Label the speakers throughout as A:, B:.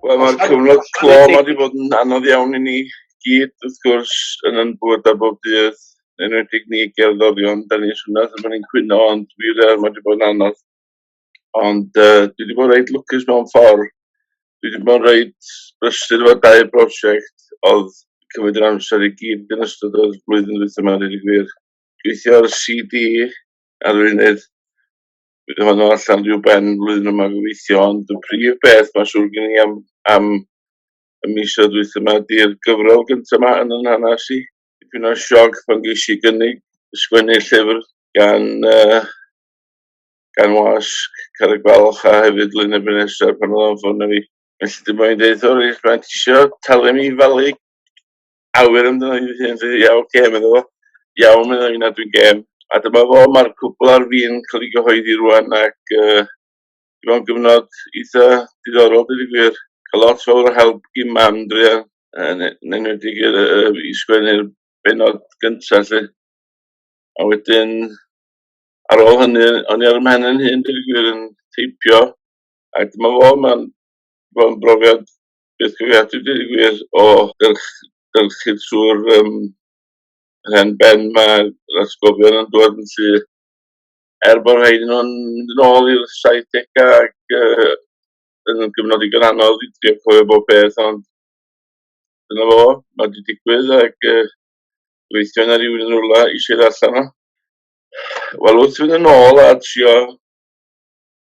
A: Wel mae'r cyfnod clo ma wedi bod yn anodd iawn i ni gyd wrth gwrs yn yn bwyd a bob dydd yn enwedig ni gerddorion da ni'n swnio fel bod ni'n cwyno ond wir mae wedi bod yn anodd ond uh, dwi wedi bod reit lwcus mewn ffordd dwi wedi bod reit brysur efo dau brosiect oedd cymryd yr amser i gyd yn ystod o'r flwyddyn dwytha yma rydyn gwir gweithio ar y CD arweinydd bydd honno allan rhyw ben flwyddyn yma gobeithio, ond y prif beth mae'n siŵr gen i am, am y misoedd dwyth yma ydy'r gyfrol gyntaf yma yn yn hanes i. Dipyn o sioc pan geis i gynnig sgwennu llyfr gan, uh, gan wasg Carreg Balch a hefyd Lyn y Benesau pan oedd o'n ffôn fi. Felly dim ond dweud, o reit, mae'n tisio talu mi falu awyr amdano hi fy hun, so ie ok, medda fo. Iawn, medda fi, na dwi'n gêm. A dyma fo, mae'r cwpl ar fin cael ei gyhoeddi rwan ac uh, i fo'n gyfnod eitha diddorol, dwi wedi gwir. Cael lot fawr o help i mam, dwi ar, yn enwedig i sgwennu'r benod gyntaf, lle. A wedyn, ar ôl hynny, o'n i ar y mhen yn hyn, dwi wedi gwir yn teipio. A dyma fo, mae'n brofiad Bydd cyfrifiadur dweud y gwir o gyrch- gyrchu trwy'r yym, hen ben 'ma, yr atgofion yn dod yn syth. Er bod rhain nhw'n mynd yn ôl i'r saithdegau ac yy yn gyfnod digon anodd i drio cofio bob peth ond dyna fo, mae wedi digwydd ac yy gobeithio na rywun yn rywle eisiau ei ddarllen o. Wel wrth fynd yn ôl a trio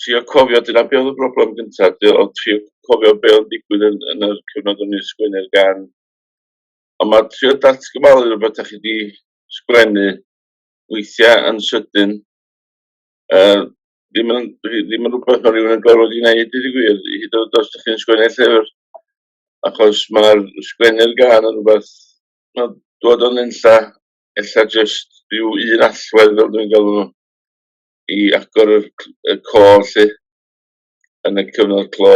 A: trio cofio, dyna be oedd y broblem gyntaf, oedd trio cofio be oedd yn digwydd yn, yn yr cyfnod o'n i'n sgwennu'r gan. Ond mae trio datgyfalu rhywbeth da chi wedi sgwennu weithiau yn sydyn, uh, ddim yn, ddim yn rhywbeth mae rhywun yn gorfod i wneud, dydy gwir, hyd yn oed os ydych chi'n sgwennu llyfr, achos mae'r sgwennu'r gan yn rhywbeth, mae'n dod o'n unlla, ella jyst rhyw un allwedd fel dwi'n galw nhw. i agor y c- y côr 'lly yn y cyfnod clo.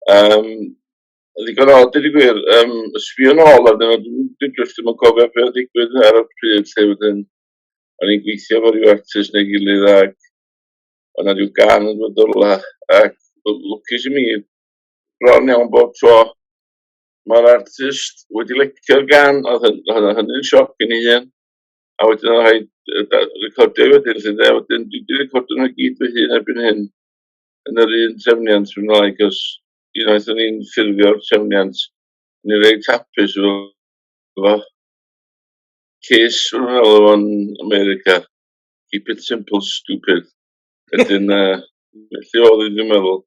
A: Yym, ddigon o dweud y gwir, yym, sbio nôl arnyn nhw, dwi dwi jyst ddim yn cofio be' oedd digwydd ar y pryd 'lly wedyn o'n i'n gweithio efo ryw artist neu gilydd ac o' 'na ryw gan yn dod o rwla ac l- lwcus i mi bron iawn bob tro ma'r artist wedi lecio'r gan, o'dd hyn- o'dd hynny'n sioc i mi hun. a wedyn o'n rhaid recordio wedyn, lle de, wedyn dwi wedi recordio nhw gyd fy hun erbyn hyn yn yr un trefniant fy mlaen, cos unwaith o'n i'n ffurfio'r trefniant, o'n i'n reit hapus efo fo. Ces fy mhel o'n America, keep it simple, stupid. Wedyn, uh, felly oedd i ddim meddwl,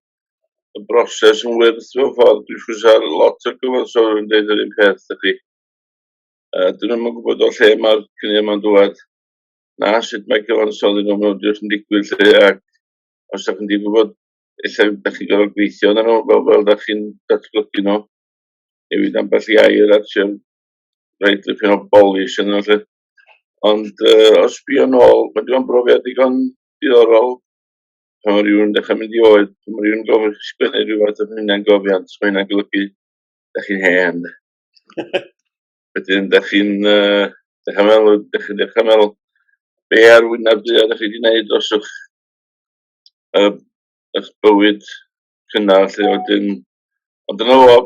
A: y broses yn wyrth fy ffordd, dwi'n siŵr sa'r lot o gyfansodwyr yn dweud yr un peth, ydych chi. Uh, dyn nhw'n yn gwybod o lle mae'r cyniad yma'n dŵad, na sut mae cyfansoddi nhw mewn diwrnod yn digwydd lle, ac os ydych chi'n di gwybod, efallai ydych chi'n gorfod gweithio na nhw, fel, fel ydych chi'n datblygu nhw, newid ambell i air at sy'n rhaid i chi o bolis yno lle. Ond uh, os bio nôl, mae digon brofiad digon diddorol pan mae rhywun yn dechrau mynd i oed, pan mae rhywun yn gofyn chi sgwennu rhywbeth yn hynny'n gofiant, mae hynny'n golygu, da chi'n hen. Wedyn, da chi'n uh, dechrau meddwl, da chi'n dechrau meddwl, be ar wynaf du a da chi wedi gwneud dros eich, uh, eich bywyd cynnar, lle wedyn, ond dyna fo,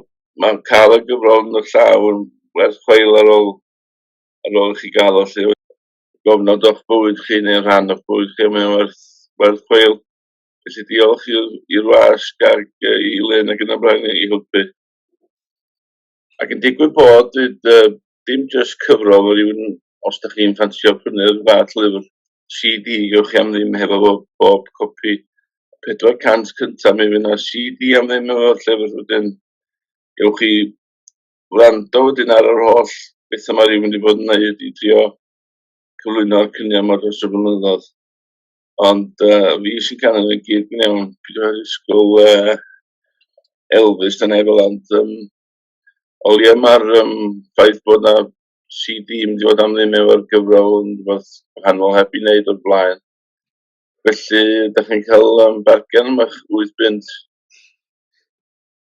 A: mae'n cael y gyfrol yn y llaw yn werth chweil ar ôl, ar ôl chi gael o, lle gofnod o'ch bywyd chi neu rhan o'ch bywyd chi, mae'n werth, werth chweil. Felly diolch i'r was, gag i Len ac yn y blaen i helpu. Ac yn digwydd bod, dyd, uh, dim jyst cyfrol o rywun, os da chi'n ffansio prynu'r fath lyfr CD, gewch chi am ddim hefo bob, bob copi 400 cyntaf, mi fydd yna CD am ddim efo llyfr wedyn. Gewch chi wrando wedyn ar yr holl beth yma rhywun wedi bod yn neud i drio cyflwyno'r cynion yma dros y blynyddoedd. Ond uh, fi sy'n cael ei gyd yn iawn. Pryd o'r ysgol uh, Elvis yn efo ond um, o leia mae'r um, ffaith bod na CD yn dod am ddim efo'r gyfrol yn rhywbeth wahanol heb i wneud o'r blaen. Felly, da chi'n cael um, bargen am eich 8 bunt.